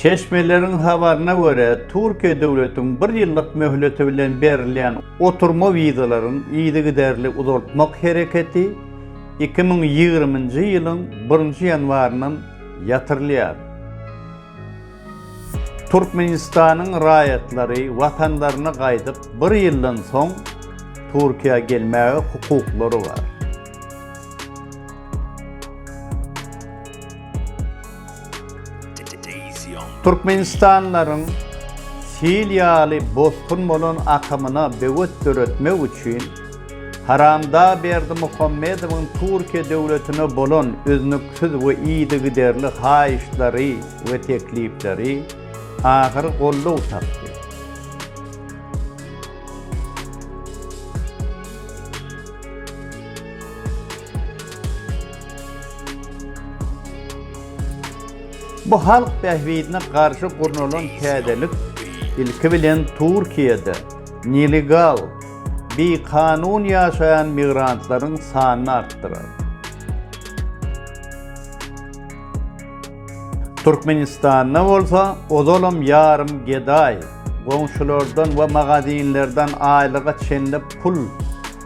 Çeşmeleriň habaryna görä, Türkiýe döwletiň bir ýyllyk möhleti bilen berilýän oturma wizalaryň yzygiderli uzaltmak hereketi iki müň ýigriminji ýylyň birinji ýanwaryndan ýatyrylýar. Türkmenistanyň raýatlary watanlaryna gaýdyp bir ýyldan soň Türkiýä gelmäge hukuklary bar. Türkmenistanlylaryň sil ýaly bosgun bolan akymyna böwet döretmek üçin Haramda Berdimuhamedowyň Türkiýe döwletine bolan üznüksiz we yzygiderli haýyştlary we teklipleri ahyry goldaw tapdy. Bu halk bähbidine garşy gurnalan täzelik, ilki bilen, Türkiýede nelegal, bikanun ýaşaýan migrantlaryň sanyny artdyrar. Türkmenistanda bolsa ozalam ýarym gedaý, goňşulardan we magazinlerden aýlyga çenli pul,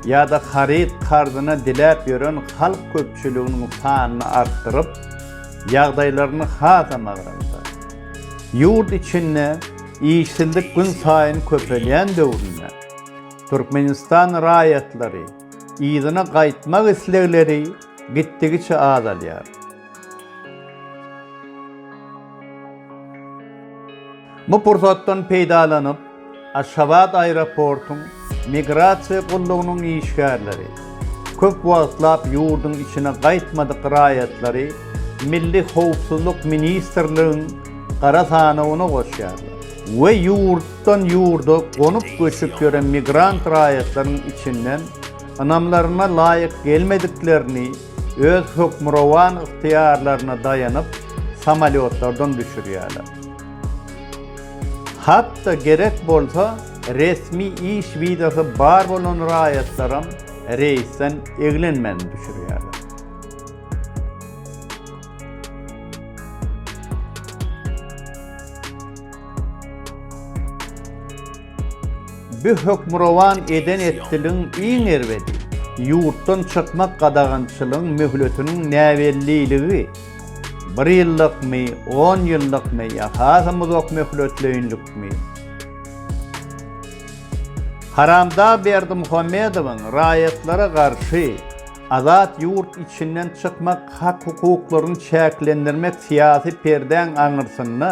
ýa-da haryt karzyna diläp ýören halk köpçüliginiň sanyny artdyryp, ýagdaýlaryny has-a magranda. Ýurt içinde işsizlik günsaýyn köpelýän döwründe Türkmenistan raýatlary yzyna gaýtmak islegleri gitdigiçe azalýar. Bu pursatdan peýdalanyp, Aşgabat aeroportyň Migrasiýa gullugynyň işgärleri köp wagtlap ýurduň içine gaýtmadyk raýatlary Milli howpsuzlyk ministrligiň gara sanawyna goşýarlar we ýurtdan ýurda gonup-göçüp ýören migrant raýatlaryň içinden ynamlaryna laýyk gelmediklerini öz hökmürowan ygtyýarlaryna daýanyp, samolýotlardan düşürýärler. Hat-da gerek bolsa, resmi iş wizasy bar bolan raýatlaram reýsden eglenmän düşürýärler. Bi hökmürowan eden etdiligiň iň erbedi, ýurtdan çykmak gadagançylygyň möhletiniň näbelliligi, bir ýyllykmy, on ýyllykmy ýa hasam uzak möhletleýinlikmi. Haramdag Berdimuhamedowyň raýatlara garşy azat ýurt içinden çykmak hak-hukuklaryny çäklendirmek syýasy perdäň aňyrsynda,